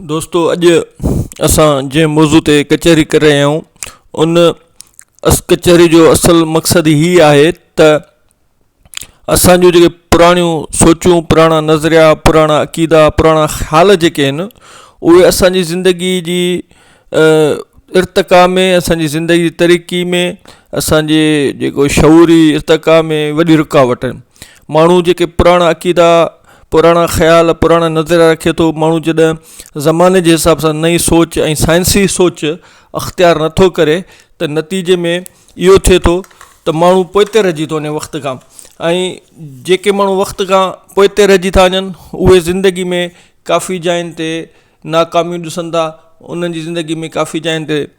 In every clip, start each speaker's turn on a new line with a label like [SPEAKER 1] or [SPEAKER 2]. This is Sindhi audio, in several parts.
[SPEAKER 1] دوستو اڄ اسان جنهن موضوع تي ڪچهري ڪري رهيا آهيون ان ڪچهري جو اصل مقصد هي آهي ته اسان جون جيڪي پراڻيون سوچون پراڻا نظريا پراڻا عقيدا پراڻا خيال جيڪي آهن اهي اسان جي زندگي جي ارتقا ۾ اسان جي زندگي جي ترقي ۾ اسان جي جيڪو شعوري ارتقا ۾ وڏي رڪاوٽ آهن ماڻهو جيڪي پراڻا عقيدا، پراڻا خيال، پراڻا نظريا رکي ٿو، ماڻهو جڏهن زماني جي حساب سان نئين سوچ ۽ سائنسي سوچ اختيار نٿو ڪري ته نتيجي ۾ اهو ٿئي ٿو ته ماڻهو پوئتي رهجي ٿو وڃي وقت کان ۽ جيڪي ماڻهو وقت کان پوئتي رهجي ٿا وڃن اهي زندگي ۾ ڪافي جاين تي ناڪاميون ڏسن ٿا انهن جي زندگي ۾ ڪافي جاين تي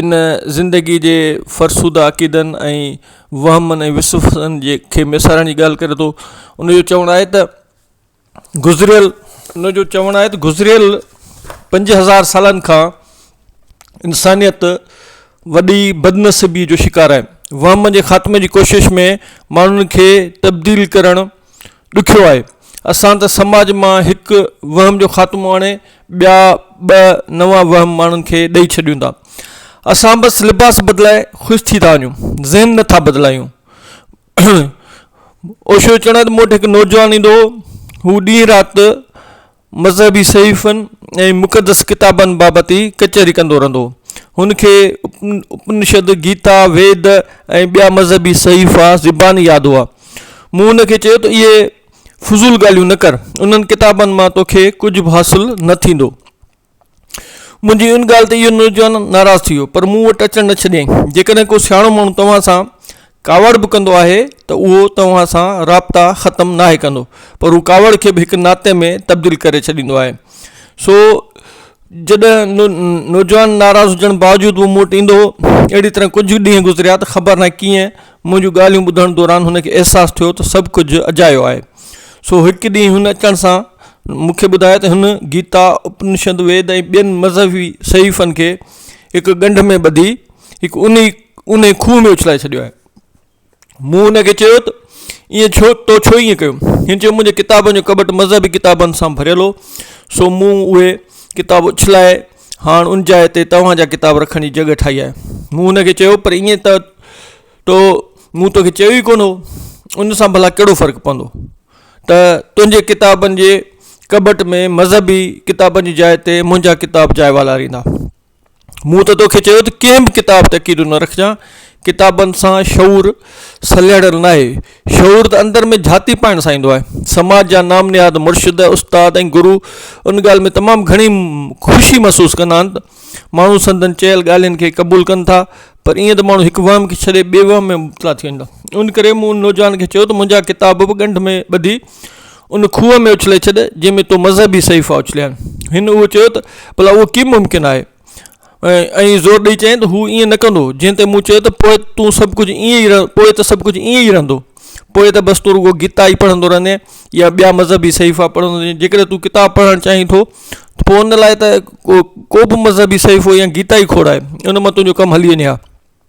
[SPEAKER 1] ان زندگيء جي فرسوده عقيدن ۽ وهمن ۽ وسوسن جي کي ميسارڻ جي ڳالهه ڪري ٿو ان جو چوڻ آهي ته گذريل ان جو چوڻ آهي ته گذريل پنج هزار سالن کان انسانيت وڏي بدنصيبي جو شڪار آهي وهم جي خاتمي جي ڪوشش ۾ ماڻهن کي تبديل ڪرڻ ڏکيو آهي. اسان ته سماج مان هڪ وهم جو خاتمو آڻي ٻيا ٻه نوان وهم ماڻهن کي ڏئي ڇڏيون ٿا. اسان بس لباس بدلائي خوش ٿي ٿا وڃون، ذهن نه ٿا بدلايون. اوشو چوڻ آهي ته مون وٽ هڪ نوجوان ايندو هو، هو ڏينهن رات مذهبي صحيفن ۽ مقدس ڪتابن بابت ئي ڪچهري ڪندو رهندو هو. هن کي اپنشد، گيتا، ويد ۽ ٻيا مذهبي صحيفا زباني ياد هئا. مون هن کي چيو ته اهي فضول ڳالهيون نه ڪر. انهن ڪتابن مان توکي ڪجهه به حاصل نه ٿيندو. منهنجي ان ڳالهه تي اهو نوجوان ناراض ٿي ويو پر مون وٽ اچڻ نه ڇڏيائين. جيڪڏهن ڪو سياڻو ماڻهو توهان سان ڪاوڙ به ڪندو آهي ته اهو توهان سان رابطا ختم ناهي ڪندو پر هو ڪاوڙ کي به هڪ ناتي ۾ تبديل ڪري ڇڏيندو آهي. سو جڏهن نوجوان ناراض هجڻ باوجود به مون وٽ ايندو هو. اهڙي طرح ڪجهه ڏينهن گذريا ته خبر ناهي ڪيئن مون جون ڳالهيون ٻڌڻ دوران هن کي احساس ٿيو ته سڀ ڪجهه اجايو آهي. سو هڪ ڏينهن هن اچڻ سان مون کي ٻڌايو ته هن گيتا، اپنشد، ويد ۽ ٻين مذهبي صحيفن کي هڪ ڳنڍ ۾ ٻڌي هڪ انهي اونهي کوهه ۾ اڇلائي ڇڏيو آهي. مون هن کي چيو ته ايئن ڇو تو ڇو ايئن ڪيو؟ هن چيو منهنجي ڪتابن جو ڪٻٽ مذهبي ڪتابن سان ڀريل هو سو مون اهي ڪتاب اڇلائي هاڻ ان جاء تي توهان جا ڪتاب رکڻ جي جڳهه ٺاهي آهي. مون هن کي چيو، پر ائين ته تو، مون توکي چيو ئي ڪونه هو. ان سان ڀلا ڪهڙو فرق پوندو ته تنهنجي ڪتابن جي ڪٻٽ ۾ مذهبي ڪتابن جي جاء تي منهنجا ڪتاب جاء والاريندا. مون ته توکي چيو ته ڪنهن به ڪتاب تي عقيدو نه رکجان. ڪتابن سان شعور سلهڙيل ناهي. شعور ته اندر ۾ جھاتي پائڻ سان ايندو آهي. سماج جا نام نهاد مرشد، استاد ۽ گرو ان ڳالهه ۾ تمام گھڻي خوشي محسوس ڪندا آهن ته ماڻهو سندن چيل ڳالهين کي قبول ڪن ٿا پر ائين ته ماڻهو هڪ وهم کي ڇڏي ٻئي وهم ۾ مبتلا ٿي ويندا آهن ان ڪري مون ان نوجوان کي چيو ته منهنجا ڪتاب به ڳنڍ ۾ ٻڌي ان کوهه ۾ اڇلي ڇڏ جنهن ۾ تو مذهبي صحيفا اڇليا آهن هن اهو چيو ته ڀلا اهو ڪيئن ممڪن آهي؟ ۽ زور ڏئي چيائين ته هو ائين نه ڪندو جنهن تي مون چيو ته پوء تون سڀ ڪجهه ائين ئي رهه پوء ته سڀ ڪجهه ائين ئي رهندو پوء ته بس تون رڳو گيتا ئي پڙهندو رهندين يا ٻيا مذهبي صحيفا پڙهندو رهين جيڪڏهن تون ڪتاب پڙهڻ چاهين ٿو ته پوء ان لاء ته ڪو ڪو به مذهبي صحيفو يا گيتا ئي کوڙائي ان مان تنهنجو ڪم هلي وڃي ها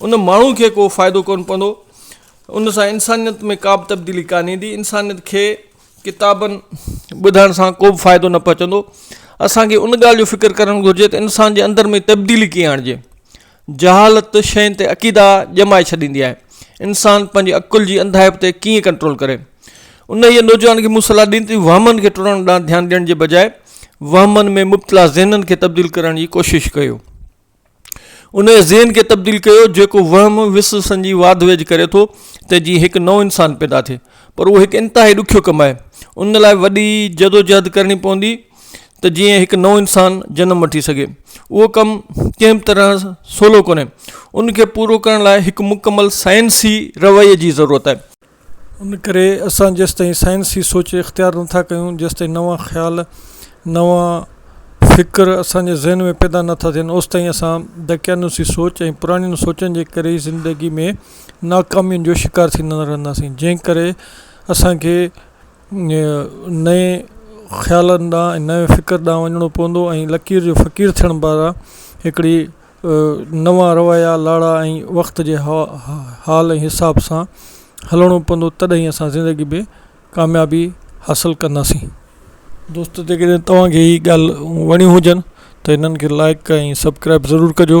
[SPEAKER 1] ان ماڻهو کي ڪو فائدو ڪونه پوندو ان سان انسانيت ۾ ڪابه تبديلي ڪانه ايندي انسانيت کي ڪتابن ٻڌائڻ سان ڪوبه فائدو نه پهچندو اسانکي ان ڳالهه جو فڪر ڪرڻ گهرجي ته انسان جي اندر ۾ تبديلي ڪيئن آڻجي جهالت شين تي عقيدا ڄمائي ڇڏيندي آهي انسان پنهنجي عقل جي انڌائپ تي ڪيئن ڪنٽرول ڪري انهيء نوجوان کي مون صلاح ڏني ته وهمن کي ٽڙڻ ڏانهن ڌيان ڏيڻ جي بجاء وهمن ۾ مبتلا ذهنن کي تبديل ڪرڻ جي ڪوشش ڪيو انهيء ذهن کي تبديل ڪيو جيڪو وهم وس سنجي واڌ ويجهه ڪري ٿو ته جيئن هڪ نئون انسان پيدا ٿئي پر اهو هڪ انتهائي ڏکيو ڪم آهي ان لاء وڏي جدوجهد ڪرڻي پوندي ته جيئن هڪ نئون انسان جنم وٺي سگهي اهو ڪم ڪنهن به طرح سولو ڪونهي ان کي پورو ڪرڻ لاء هڪ مڪمل سائنسي رويي جي ضرورت آهي ان ڪري اسان جيستائين سائنسي سوچ اختيار نٿا ڪيون جيستائين نوان خيال نوان فڪر اسان جي ذهن ۾ پيدا نٿا ٿين اوستائين اسان دقيانوسي سوچ ۽ پراڻين سوچن جي ڪري ئي زندگي ۾ ناڪامين جو شڪار ٿيندا رهنداسين جنهن ڪري اسانکي نئين خيالن ڏانهن ۽ نئين فڪر ڏانهن وڃڻو پوندو ۽ لڪير جو فقير ٿيڻ بعد هڪڙي نوان روايا لاڙا ۽ وقت جي حال ۽ حساب سان هلڻو پوندو تڏهن ئي اسان زندگي ۾ ڪاميابي حاصل ڪنداسين دوستو جيڪڏهن توهان کي هي ڳالهه وڻيون هجن ته هنن کي لائڪ ۽ سبڪرائب ضرور ڪجو